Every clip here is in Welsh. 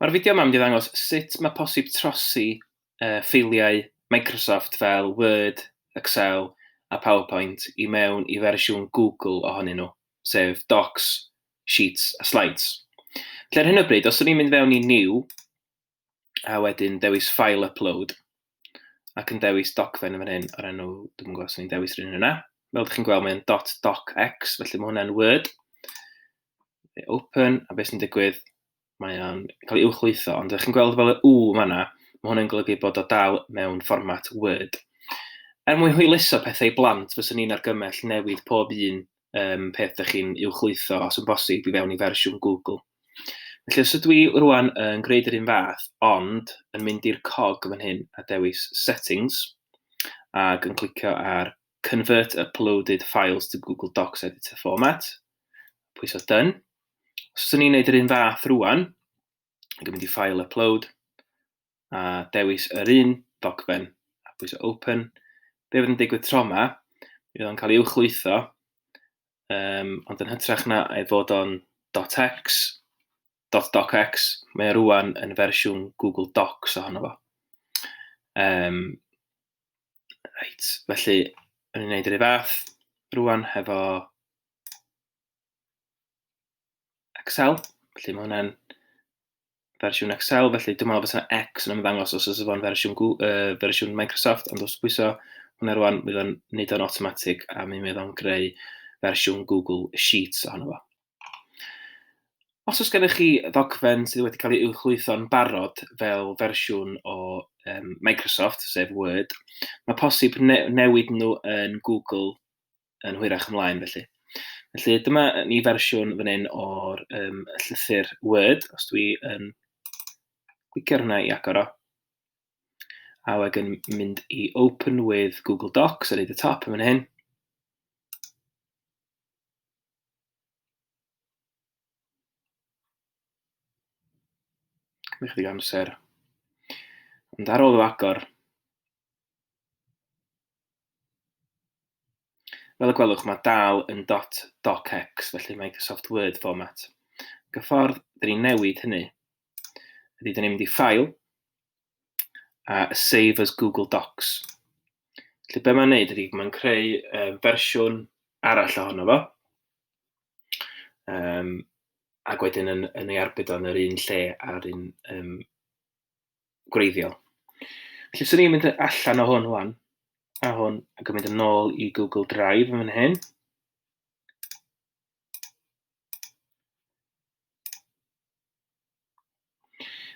Mae'r fideo yma mynd i ddangos sut mae posib trosi uh, ffeiliau Microsoft fel Word, Excel a PowerPoint i mewn i fersiwn Google ohonyn nhw, sef Docs, Sheets a Slides. Felly ar hyn o bryd, os ydym ni'n mynd fewn i New a wedyn dewis File Upload, ac yn dewis dogfen yn fan hyn o'r enw, dwi'n yn gwybod os o'n i'n dewis rhywun yna. Fel ydych chi'n gweld, mae'n dot docx, felly mae hwnna'n Word. Open, a beth sy'n digwydd, mae o'n cael ei uwchlwytho, ond ydych chi'n gweld fel y U yma, mae hwnna'n golygu bod o dal mewn fformat Word. Er mwyn hwyluso pethau i blant, fyswn ni'n argymell newid pob un um, peth ydych chi'n uwchlwytho os yn bosib i fewn i fersiwn Google. Felly os ydw i rwan yn gwneud yr un fath, ond yn mynd i'r cog fan hyn a dewis Settings, ac yn clicio ar Convert Uploaded Files to Google Docs Editor Format, pwys o Done. Os ydw i'n gwneud yr un fath rwan, ac yn mynd i File Upload, a dewis yr un ddogfen a pwyso open. Be fydd yn digwydd tro yma, mi fydd o'n cael ei uwchlwytho, um, ond yn hytrach na ei fod o'n .x, .docx, mae o rwan yn fersiwn Google Docs ohono fo. Um, reit, felly, yn ei wneud yr ei fath, rwan hefo Excel, felly mae hwnna'n fersiwn Excel, felly dwi'n meddwl bod yna X yn ymddangos os oes fo'n fersiwn, uh, fersiwn Microsoft, ond os bwyso hwnna rwan, mi o'n nid o'n automatic a mi fydd o'n greu fersiwn Google Sheets ohono fo. Os oes gennych chi ddogfen sydd wedi cael ei uwchlwytho'n barod fel fersiwn o um, Microsoft, sef Word, mae posib ne newid nhw yn Google yn hwyrach ymlaen felly. Felly dyma ni fersiwn fan hyn o'r um, llythyr Word, os dwi yn glicio hwnna i agor o. A wedyn mynd i Open with Google Docs ar ei y top yn fan hyn. Cymru chydig amser. Ond ar ôl o agor, Fel y gwelwch, mae dal yn dot docx, felly Microsoft Word format. Gyffordd, dyn ni'n newid hynny, ydy dyn ni'n mynd i ffail, a save as Google Docs. Felly be mae'n neud ydy, mae'n creu um, fersiwn arall ohono fo, um, ac wedyn yn, yn ei arbed o'n yr un lle a'r un um, gwreiddiol. Felly, swn i'n mynd allan o hwn wan, a hwn, ac yn mynd yn ôl i Google Drive yn fan hyn.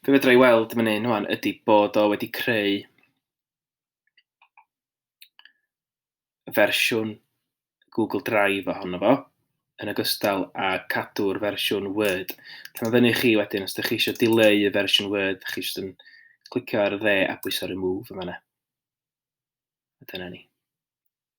Fe fedra i weld yn fan hyn wan ydy bod o wedi creu fersiwn Google Drive ohono fo, yn ogystal â cadw'r fersiwn Word. Dyna fyny i chi wedyn, os ydych chi eisiau dileu y fersiwn Word, ydych chi eisiau yn clicio ar y dde a bwyso remove yn fanna. A dyna ni.